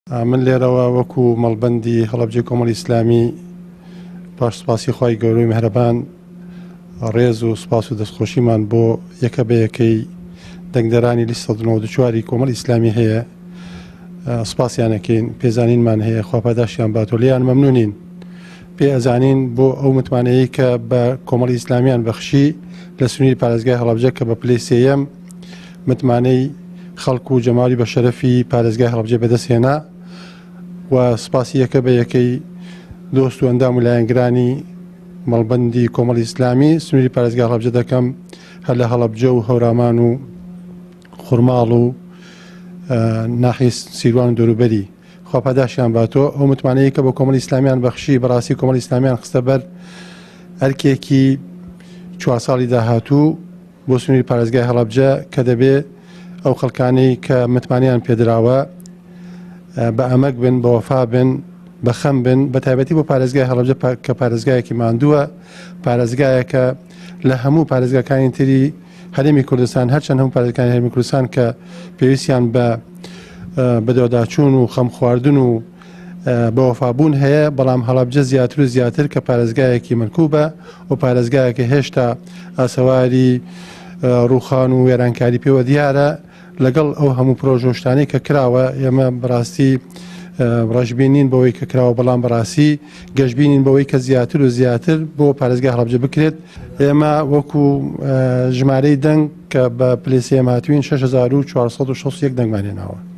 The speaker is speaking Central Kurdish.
من لێرەوە وەکو مەڵبەندی هەڵەبجەی کۆمەڵی ئیسلامی پاش سپاسی خوای گەورەی مهرەبان ڕێز و سپاس و دەستخۆشیمان بۆ یەکە بە یەکەی دەنگدەرانی لیست 1940 کۆمەڵ ئیسلامی هەیە سپاسیانەکەین پێزانینمان هەیە خواپاداشیان باتۆلیان مەمنونین پێ ئەزانین بۆ ئەو متمانەیە کە بە کۆمەڵی ئیسلامیان بەخشی لە سنووری پارێزگای هەڵبجە کە بە پلی سم متمانەی خەڵک و جەماوەری بە شەرەفی پارێزگای هەڵەبجەی بەدەست هێنا و سپاسی یەکە بە یەکەی دۆست و ئەندام و لایەنگرانی مەڵبەندی کۆمەڵی ئیسلامی سنووری پارێزگای هەڵەبجە دەکەم هەر لە هەڵەبجە و هەورامان و خورماڵ و ناحی سیروان و دەوروبەری خوا پاداشیان باتۆ ئەو متمانەیە کە بە کۆمەڵی ئیسلامیان بەخشی بەڕاستی کۆمەڵی ئیسلامیان خستە بەر ئەرکێکی چوار ساڵی داهاتوو بۆ سنووری پارێزگای هەڵەبجە کە دەبێ ئەو خەڵکانەی کە متمانەیان پێدراوە بە ئەمەک بن بە وەفا بن بە خەم بن بە تایبەتی بۆ پارێزگای هەڵەبجە کە پارێزگایەکی ماندووە پارێزگایەکە لە هەموو پارێزگاکانی تری هەرێمی کوردستان هەرچەند هەموو پارێزگاکانی هەرێمی کوردستان کە پێویستیان بە بەدەوەداچوون و خەم خواردن و بەوەفابوون هەیە، بەڵام هەڵەبجە زیاتر و زیاتر کە پارێزگایەکی ملکوبە و پارێزگایەکە هێشتا ئاسەواری ڕووخان و وێرانکاری پێوە دیارە لەگەڵ ئەو هەموو پرۆژە شتانەی کە کراوە ئێمە بەڕاستی ڕژبینین بەوەی کە کراوە بەڵام بەڕاستی گەشببینین بەوەی کە زیاتر و زیاتر بۆ پارێزگای هەڵبجە بکرێت ئێمە وەکو ژمارەی دەنگ کە بە پلسیێماتوین 6461 دەنگمانێناوە.